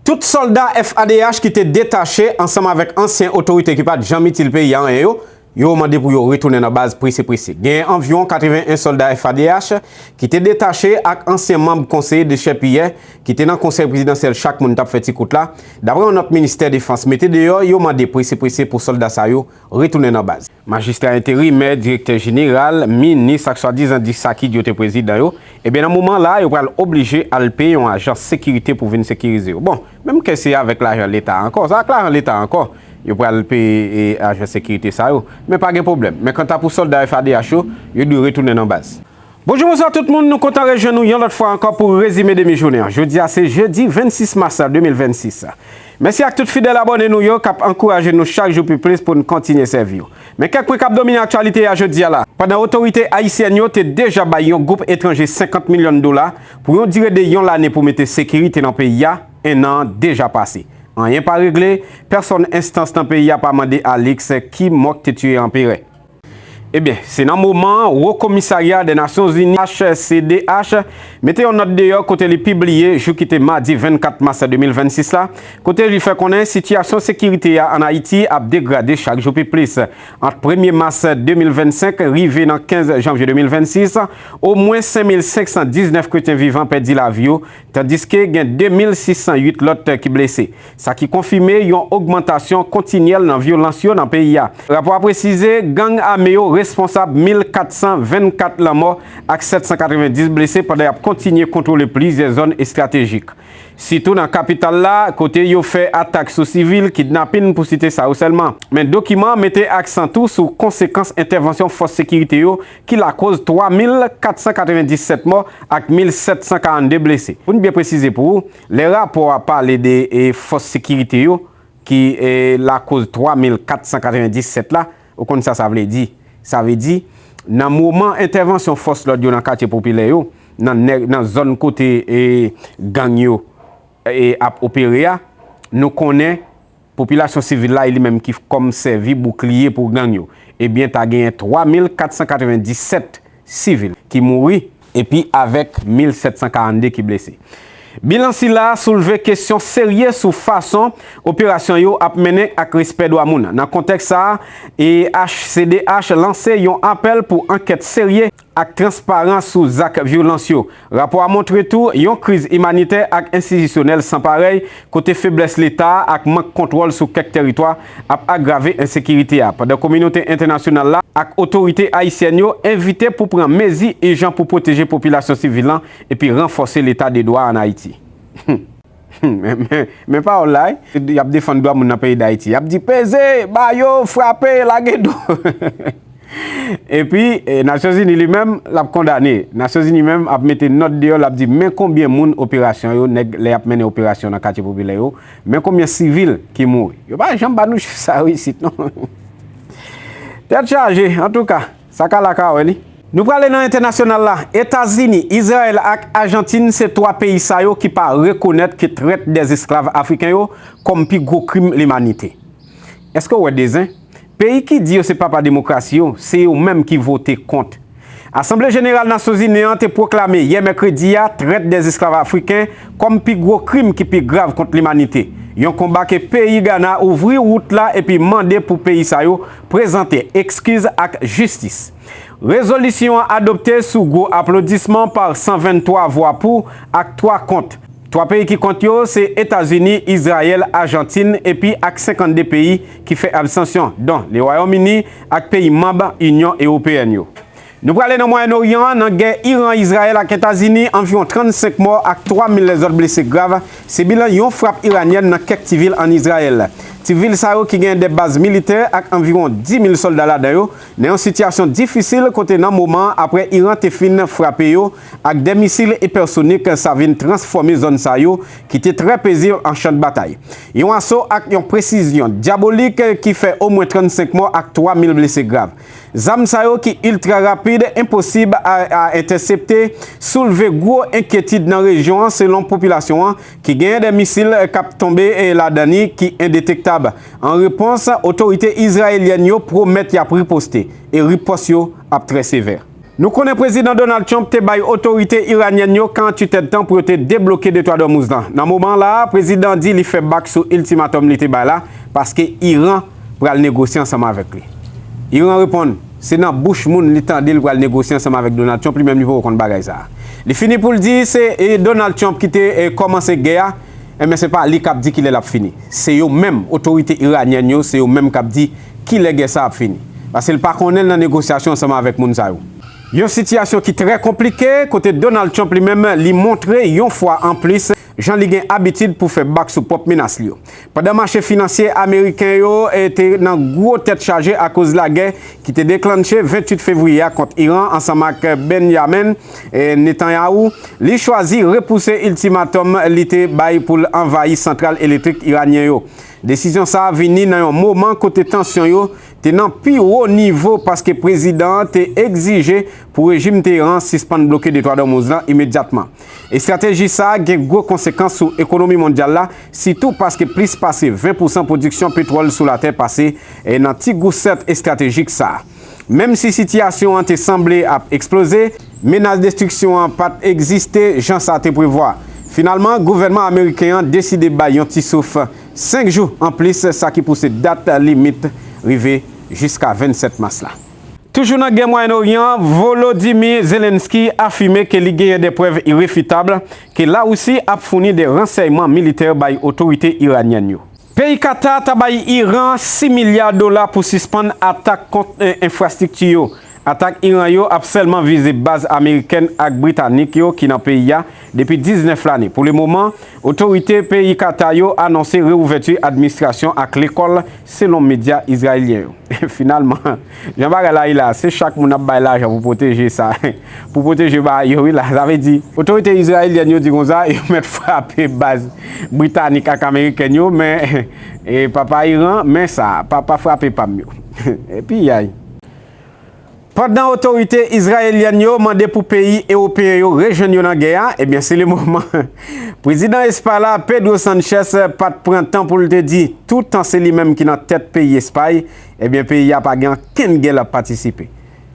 Tout sòlda FAd'H ki te detache ansanm avèk ansyen otorite ki pa t janm itil peyi a anyen yo, yo mande pou yo retounen nan baz prese prese. Genyen anviwon 81 sòlda FAd'H ki te detache ak ansyen manb konseye dechèpiyè ki te nan konsèy prezidansyèl chak moun t ap fè ti kout la, daprè yon nòt ministè defans mete deyò, yo mande prese prese pou sòlda sa yo retounen nan baz. Majistra enterimè, direktè jeneral, minis ak swadizan 10 sakid yo te prezidan yo, ebyen nan moman la yo pral oblije al peye yon ajans sekirite pou vin sekirize yo. Bon, menm ke se avèk lajan leta ankò, sa ak lajan leta ankò yo pral peye ajans sekirite sa yo, men pa gen pwoblèm. Men kanta pou sòlda FADH yo, yo dwe retounen nan baz. Bonjou bonswa tout moun, nou kontan rejwenn nou yon lòt fwa ankò pou rezime demi jounen an. Jodi a se jedi 26 mas 2026. Mèsi ak tout fidèl abòne nou yo kap ankouraje nou chak jou pi plis pou n kontinye sèvi yo. Men kèk pwen kap domine aktyalite a jodi a la. Pandan otorite ayisyèn yo te deja bay yon gwoup etranje 50 milyon dola pou yon dire de yon lane pou mete sekirite nan peyi a, ennan an deja pase. Anyen pa regle, pèsòn enstans nan peyi a pa mande Alix ki mò k te tiye anperè. Ebyen, se nan moman an Wo Komisarya dè Nasyon Zini, HCDH, mete yon nòt deyò kote li pibliye, jou ki te madi 24 mas 2026 la, kote li fè konnen sitiyasyon sekirite a ann Ayiti ap degrade chak jou pi plis. Ant premye mas 2025 rive nan 15 janvye 2026, omwen 5,519 kretyen vivan pèdi lavi yo, tandiske gen 2,608 lòt ki blese, sa ki konfime yon ogmantasyon kontinyèl nan vyolans yo nan peyi a. Rapò a presize gang ame yo responsab 1,424 lanmò ak 790 blese pandan y ap kontinye kontwole plizyè zòn estratejik, sitou nan kapital la, kote yo fè atak sou sivil, kidnapin, pou site sa yo sèlman. Men dokiman an mete aksan tou sou konsekans entèvansyon fòs sekirite yo ki lakoz 3,497 mò ak 1,742 blese. Pou n byen presize pou ou, lè rapò a pale de fòs sekirite yo ki lakoz 3,497 la, ou konn sa sa vle di. Sa vle di, nan moman entèvansyon fòs lòd yo nan katye popilè yo, nan zòn kote gang yo ap opere a, nou konnen, Popilasyon sivil la e li menm ki kòm sèvi boukliye pou gang yo, ebyen ta genyen 3497 sivil ki mouri, epi avèk 1742 ki blese. Bilan sila a soulve kesyon serye sou fason operasyon yo ap mennen ak respè dwa moun. Nan kontèks sa a, HCDH lanse yon apèl pou ankèt serye ak transparan sou zak vyolans yo. Rapò a montre tou yon kriz imanitè ak enstitisyonèl san parèy, kote feblès Leta a ak mank kontwòl sou kèk tèritwa ap agrave ensekirite a, pandan kominote entènasyonal la ak otorite ayisyèn yo envite pou pran mezi ijan pou pwoteje popilasyon sivil lan epi ranfòse Leta de dwa an Ayiti. Men pawòl la, y ap defann dwa moun nan peyi Dayiti. Y ap di peze, ba yo, frape, lage do. Epi, Nasyonzini li menm, l ap kondane. Nasyonzini menm ap mete nòt deyò, l ap di men konbyen moun operasyon yo, nèg lè y ap mennen operasyon nan katye popilè yo, men konbyen sivil ki mouri. Yo pa janm ba nou chif sa yo isit non. Tèt chaje, antouka. Sa ka la ka wè li. Nou prale nan entènasyonal la, Etazini, Izrayèl ak Ajantin se 3 peyi sa yo ki pa rekonèt ke trèt dè esklav Afriken yo kòm pi gwo krim limanite. Eske w wè de zen? Peyi ki di yo se papa demokrasi yo, se yo menm ki vote kont. Asanble Jeneral Nasyonzini an te pwoklame yè mèkredi a trèt dè esklav Afriken kòm pi gwo krim ki pi grav kont limanite, yon konba ke peyi Gana ouvri wout la epi mande pou peyi sa yo Prezante ekskiz ak jistis. Rezolisyon an adopte sou gwo aplodisman pa 123 vwa pou ak 3 kont. 3 peyi ki kont yo se Etazini, Izrayèl, Ajantin epi ak 52 peyi ki fè absansyon, don Le Wayòm Ini ak peyi manb Inyon Ewopeyèn yo. Nou prale nan Mwayen Oryan an, nan gè Iran, Izrayèl ak Etazini, anviwon 35 mò ak 3 mil lèzòt blese grav, se bilan yon frap iranyèn nan kèk ti vil ann Izrayèl. Ti vil sa yo ki genyen 2 baz militè ak anviwon 10 mil sòlda ladan yo, nan yon sitiyasyon difisil kote nan moman an aprè Iran te fin frape yo ak 2 misil ipèsonik sa vin transfòme zòn sa yo ki te trè pezib an chan dbatay. Yon aso ak yon presizyon dyabolik ki fè omwen 35 mò ak 3 mil blese grav. Zam sa yo ki iltra rapid, enposib a a entèsepte, soulve gwo enkyetid nan rejyon an selon popilasyon an ki genyen 2 misil k ap tonbe ladan li ki endetektab. An repons, otorite izrayelyèn yo pwomèt y ap riposte e ripòs yo ap trè sevè. Nou konnen Prezidan Donald Trump te bay otorite iranyèn yo 48 èdtan pou yo te debloke Detwa d'Ormuz lan. Nan moman la a, prezidan an di li fè bak sou iltimatòm li te bay la paske Iran pral negosye ansanm avèk li. Iran reponn, se nan bouch moun li tande li pral negosye ansanm avèk Donald Trump, li menm li poko konn bagay sa a. Li fini pou l di se Donald Trump ki te kòmanse gè a, enben se pa li k ap di ki lè l ap fini. Se yo menm, otorite iranyèn yo, se yo menm k ap di Kilè gè sa ap fini? Pase l pa konnen l nan negosyasyon ansanm avèk moun sa yo. Yon sitiyasyon ki trè konplike, kote Donald Trump li menm li montre yon fwa anplis jan li gen abitid pou fè bak sou pwòp menas li yo. Pandan mache finansye ameriken yo te nan gwo tèt chaje akoz lagè ki te deklannche 28 fevriye a kont Iran ansanm ak Benjamin Netanyahu, li chwazi repouse iltimatòm li te bay pou l anvayi santral elektrik iranyen yo. Desizyon sa a vini nan yon moman kote tansyon yo te nan pi wo nivo paske prezidan an te egzije pou rejim Teheran sispann bloke Detwa Dòmouz la imedyatman. Estrateji sa a gen gwo konsekans sou ekonomi mondyal la, sitou paske plis pase 20 pousan pwodiksyon petwòl sou latè pase nan ti gousèt estratejik sa a. Menm si sitiyasyon an te sanble ap eksploze, menas destriksyon an pa t egziste jan sa te prevwa. Finalman, gouvènman ameriken an deside bay yon ti souf 5 jou anplis sa ki pouse dat limit rive jiska 27 mas la. Toujou nan gè Mwayen Oryan an, Volodymyr Zelenskyy afime ke li genyen de prèv irefitab ke Larisi ap founi de ransèyman militè bay otorite iranyèn yo. Peyi Qatar ta bay Iran 6 milya dola pou sispann atak kont enfrastrikti yo. Atak Iran yo ap sèlman vize baz amerikèn ak britanik yo ki nan peyi a depi 19 lane. Pou le moman, otorite peyi Qatar yo anonse reouvèti administrasyon ak lekòl, selon medya izrayelyen yo. Finalman. Jan bagay la ye la, se chak moun ap bay lajan pou pwoteje sa, pou pwoteje baay yo wi la, sa vle di, otorite izrayelyèn yo di konsa, yo mèt frape baz britanik ak amerikèn yo, men papa Iran, men sa, papa frape pam yo. Piyay. Pandan otorite izrayelyèn yo mande pou peyi ewopeyen yo rejwenn yo nan gè a, ebyen se le moman, prezidan Espay la, Pedro Sanchez, pat pran tan pou l te di, toutan se li menm ki nan tèt peyi Espay, Ebyen peyi a pa gen ankenn gè lap patisipe.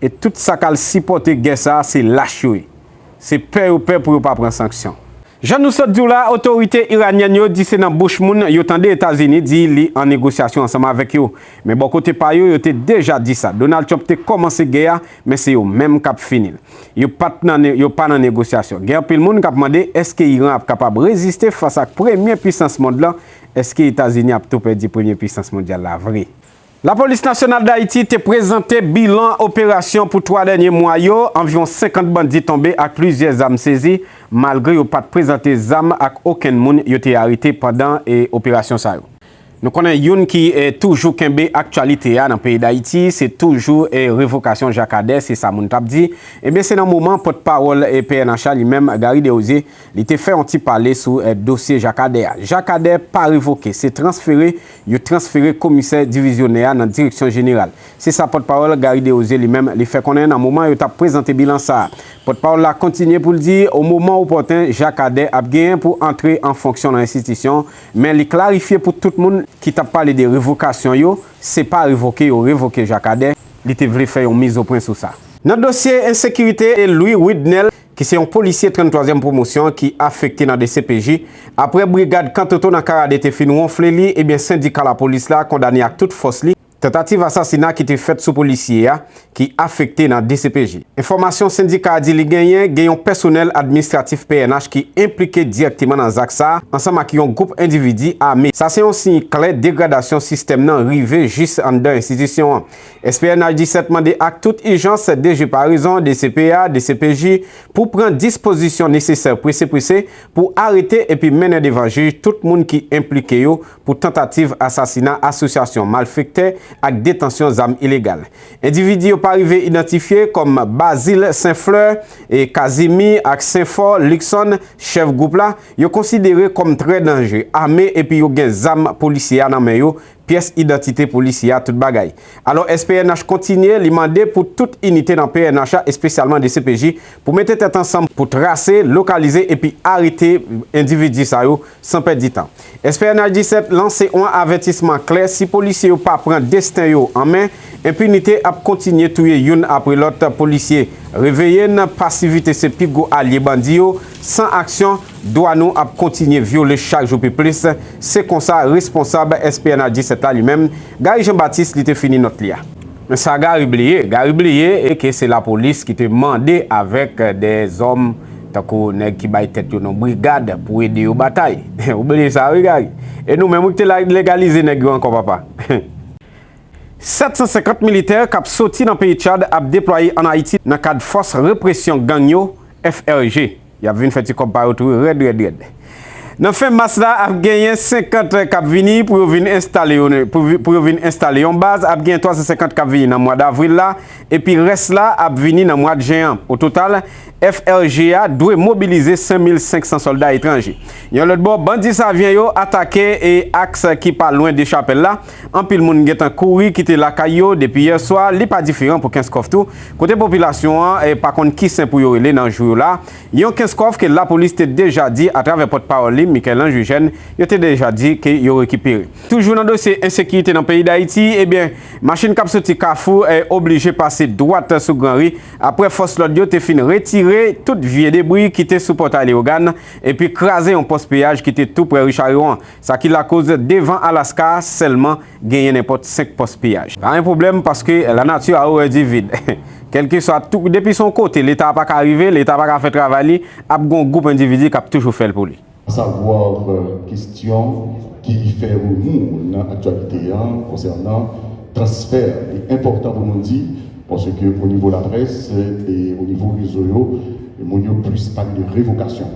E tout sa kal sipòte gè sa se lach yo ye. Se pè yo pè pou yo pa pran sanksyon. Jan nou sot diw la, otorite iranyèn yo di se nan bouch moun yo tande Etazini di li an negosyasyon ansanm avèk yo. Men bò kote pa yo, yo te deja di sa. Donald Trump te kòmanse gè a, men se yo menm kap finil. Yo pat nan yo pa nan negosyasyon. Gen anpil moun kap mande eske Iran ap kapab reziste fas ak premye pwisans mond lan Èske Etazini ap tou pèdi premye puisans mondyal la vre? Lapolis Nasyonal Dayiti te prezante bilan operasyon pou 3 dènye mwa yo, anviwon 50 bandi tonbe ak plizyè zam sezi, malgre yo pat prezante zam ak okenn moun yo te arete pandan operasyon sa yo. Nou konnen youn ki toujou kenbe aktyalite a nan peyi Dayiti, se toujou revokasyon Jacques Ader, se sa moun tap di, ebyen se nan moman pòt pawòl pnh a li menm Garry Desrosiers, Li te fè yon ti pale sou dosye Jakadè a. Jakadè pa revoke, se transfere, yo transfere komisè divizyonè a nan direksyon jeneral. Se sa pòtpawòl Garry Desrosiers li menm li fè konnen nan moman yo tap prezante bilan sa a. Pòtpawòl la kontinye pou l di o moman opòten Jakadè ap genyen pou antre an fonksyon nan enstitisyon men li klarifye pou tout moun ki tap pale de revokasyon yo, se pa revoke yo revoke Jakadè, li te vle fè yon mizopwen sou sa. Nan dosye ensekirite e Louis Widnel ki se yon polisye 33 zièm pwomosyon ki afekte nan dcpj, aprè brigad Kantoto nan Karade te fin wonfle li ebyen sendika lapolis la kondane ak tout fòs li tantativ asasina ki te fèt sou polisye a ki afekte nan dcpj. Enfòmasyon sendika a di li genyen, gen yon pèsonèl administratif pnh ki enplike dirèkteman nan zak sa ansanm ak yon gwoup endividi ame. Sa se yon siy klè degradasyon sistèm nan rive jis anndan enstitisyon an. SPNH 17 mande ak tout ijans DG Paraison, dcpah, dcpj pou pran dispozisyon nesesè prese prese pou arete epi mennen devan jij tout moun ki enplike yo pou tantativ asasina, asosyasyon malfektè ak detansyon zam ilegal. Endividi yo pa rive idantifye kòm Bazile Senfleur, Kazimi ak Senfò Likson, chèf gwoup la, yo konsidere kòm trè danje, ame epi yo gen zam polisye a nan men yo, pyès idantite polisye a, tout bagay. Alò SPNH kontinye, li mande pou tout inite nan pnh la, espesyalman dcpj, pou mete tèt ansanm pou trase, lokalize epi arete endividi sa yo san pèdi tan. SPNH 17 lanse on avètisman klè, si polisye yo pa pran desten yo an men, enpinite ap kontinye touye youn apre lòt polisye. Reveye n, pasivite se pi gwo alye bandi yo, san aksyon, Dwa nou ap kontinye vyole chak jou pi plis, se konsa responsab SPNH 17 la li menm, Gary Jean Baptiste li te fini nòt li a. Men sa Gary bliye, Gary bliye e ke se lapolis ki te mande avèk de zòm tankou nèg ki bay tèt yo non brigad pou ede yo batay. Ou bliye sa wi Gary. E nou menm wi ki te legalize nèg yo ankò papa. 750 militè k ap soti nan peyi Tchad ap deplwaye an Ayiti nan kad fòs represyon gang yo, FRG. Y ap vin fè ti kòb pa yo tou rèd rèd rèd. Nan fen mas la, ap genyen 50 k ap vini pou yo vin enstale yo pou yo vin enstale yon baz, ap genyen 350 k ap vini nan mwa davril la, epi rès la ap vini nan mwad jen an. Ototal, FLG a dwe mobilize 5 mil 500 sòlda etranje. Yon lòt bò, bandi Savyen yo atake aks ki pa lwen Dechapèl la. Anpil moun gentan kouri kite lakay yo depi yè swa, li pa diferan pou Kenskòf tou, kote popilasyon an pa konn ki sen pou yo rele nan jou yo la, yon Kenskòf ke lapolis te deja di atravè pòt pawòl li Michel-Ange Eugène, yo te deja di ke yo rekipere. Toujou nan dosye ensekirite nan peyi Dayiti, ebyen machin kap soti Kafou oblije pase dwat sou Gran Ri aprè fòs lòd yo te fin retire tout vye debri ki te sou Pòtay Leyogàn epi kraze yon pòs peyaj ki te tou prè Richarion an. Sa ki lakoz devan Alaska a sèlman genyen nenpòt 5 pòs piyaj. Pa gen pwoblèm paske la nati a orè di vid. Kèlkeswa tou, depi se yon kote leta pa ka rive, leta pa ka fè travay li, ap gen yon gwoup endividi k ap toujou fè l pou li. A savoir kestyon ki fè remou nan aktyalite a konsènan transfè li enpòtan pou nou di paske o nivo laprès e o nivo rezo yo moun yo plis pale de revokasyon.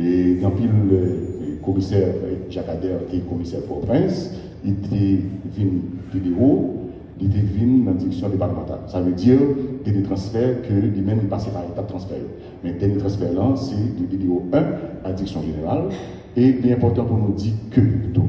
Gen anpil lè komisè Jakadèr te komisè Pòtoprens, li te vin pi dewo, li te vin nan direksyon depatmantal. Sa vle di gen de transfè ke li menm li pase pa etap transfè yo. Men dènye transfè lan se de BDO 1 a direksyon jeneral e li enpòtan pou nou di ke tou.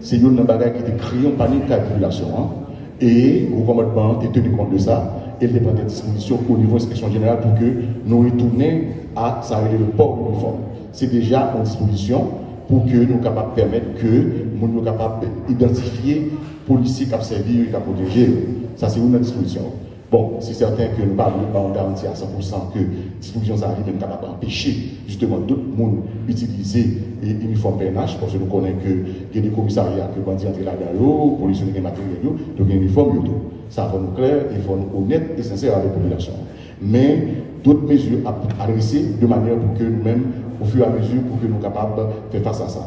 Se youn nan bagay ki te kreye yon panik kay popilasyon an, e Wo Kòmandman an te teni kont de sa, e l te pran dè dispozisyon onivo Enspeksyon Jeneral pou ke nou retounen a sa rele le port uniforme. Se deja yon dispozisyon pou ke nou kapab pèmèt ke moun yo kapab idantifye polisye k ap sèvi yo e k ap pwoteje yo. Sa se youn nan dispozisyon yo. Bon, se sèten ke nou pa vle ban yon garanti a san pou san ke dispozisyon sa a li menm kapab anpeche jisteman dout moun itilize inifòm pnh, paske nou konnen ke gen de komisarya ke bandi antre ladan yo, polis yo te gen materyèl yo, yo gen inifòm yo tou. Sa fò nou klè e fò nou onèt e sensè avèk popilasyon an. Men, dout mezi ap adrese de manyè pou ke nou menm, ofiramezi pou ke nou kapab fè fas a sa.